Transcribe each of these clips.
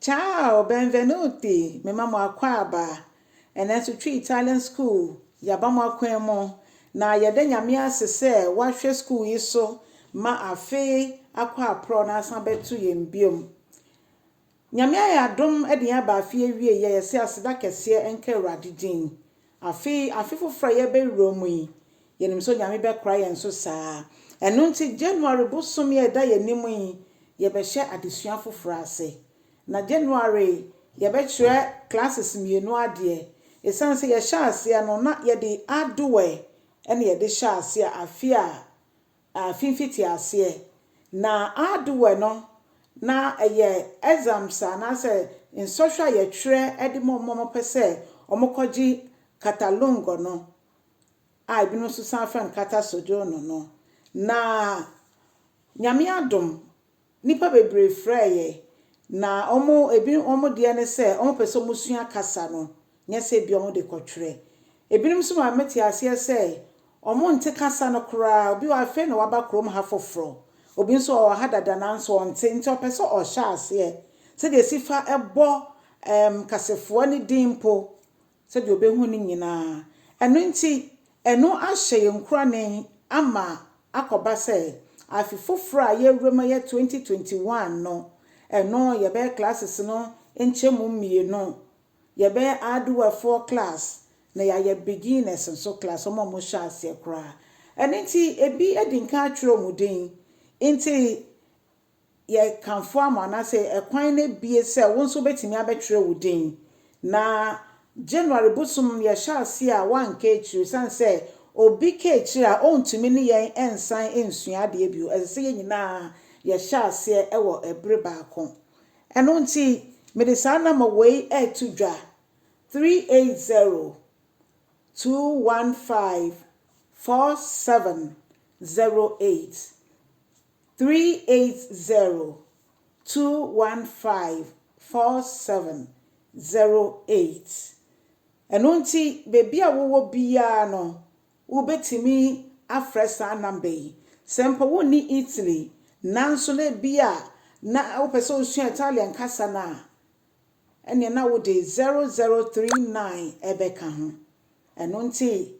Ciao, benvenuti, mema mo akwaaba. Ɛnnɛ nso Twi Italian School, yɛaba mo akwan mu, na yɛda Nyame ase sɛ wahwɛ school yi so ma afe akɔ aprɔ na asan bɛto yɛn biom. Nyame ayɛ adom de yɛn aba afe awiei a, yɛse aseda kɛseɛ nka Awurade din. Afei, afe foforo a yɛrebɛwura mu yi, yɛnim sɛ Onyame bɛkora yɛn so saa. Ɛno nti, January bosome a ɛda yɛn anim yi, yɛbɛhyɛ adesua foforo ase. Na January yi, yɛbɛkyerɛ classes mmienu adeɛ. Ɛsiane sɛ yɛhyɛɛ aseɛ no, na yɛde Adware na yɛde hyɛɛ aseɛ afe a Afi mfitiaseɛ, na Ardua no na ɛyɛ exams anaasɛ nsɔhwɛ a yɛtwerɛ de ma wɔn a wɔpɛ sɛ wɔkɔgye Catalungo no, a ebinom nso san frɛ no Cata Sojourno no, na Nyame adom Nnipa bebree frɛɛ yɛn, na wɔn, ebi, wɔn deɛ ne sɛ wɔpɛ sɛ wɔsua kasa no, nyɛ sɛ ebia wɔde kɔtwerɛ. Ebinom nso ma mete aseɛ sɛ wɔnte kasa no koraa, obi wɔ ha afei na waba kurom ha foforɔ, obi nso ɔwɔ ha dada nanso ɔnte, nti ɔpɛ sɛ ɔhyɛ aseɛ sɛdeɛ ɛsi fa bɔ ɛɛm kasefoɔ no din mpo, Sɛdeɛ ɔbɛhunu no nyinaa. Ɛno nti, ɛno ahyɛ yɛn nkurane ama akɔba sɛ, afe foforɔ a yɛrewura mu a ɛyɛ 2021 no, ɛno yɛbɛyɛ classes no nkyɛmu mmienu. Yɛbɛyɛ Aduafoɔ class, na yɛayɛ Beginners nso class, wɔn a wɔhyɛɛ aseɛ koraa. Ɛno nti, ebi adi nkan atwerɛ wɔn din. Nti, yɛ kamfo ama wo anaasɛ ɛkwan no abue sɛ wo nso wobɛtumi abɛtwerɛ wo din. Na January bosom no yɛhyɛ aseɛ a woanka akyire ɛsiane sɛ obi ka akyire a ɔntumi ne yɛn nsan nsua adeɛ bio. Ɛsɛ sɛ yɛn nyinaa yɛhyɛ aseɛ wɔ ɛbere baako. Ɛno nti mede saa nɔma wei reto dwa, 380 215 4708. Three eight zero two one five four seven zero eight Ɛno nti baabi a wowɔ biara no wobɛtumi afrɛ saa number yi. Sɛ mpo wonni Italy nanso na ebia na wopɛ sɛ wosua Italian kasa no a, ɛnneɛ na wode zero zero three nine ɛbɛka ho. Ɛno nti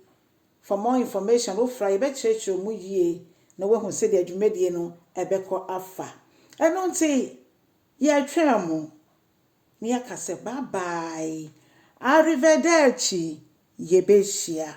For more information, wofra a, yɛbɛkyerɛkyerɛ mu yie na woahu sɛdeɛ dwumadie no ɛbɛkɔ afa. Ɛno nti, yɛretwɛn mo, na yɛaka sɛ bye bye, arrivederci, yɛbɛhyia.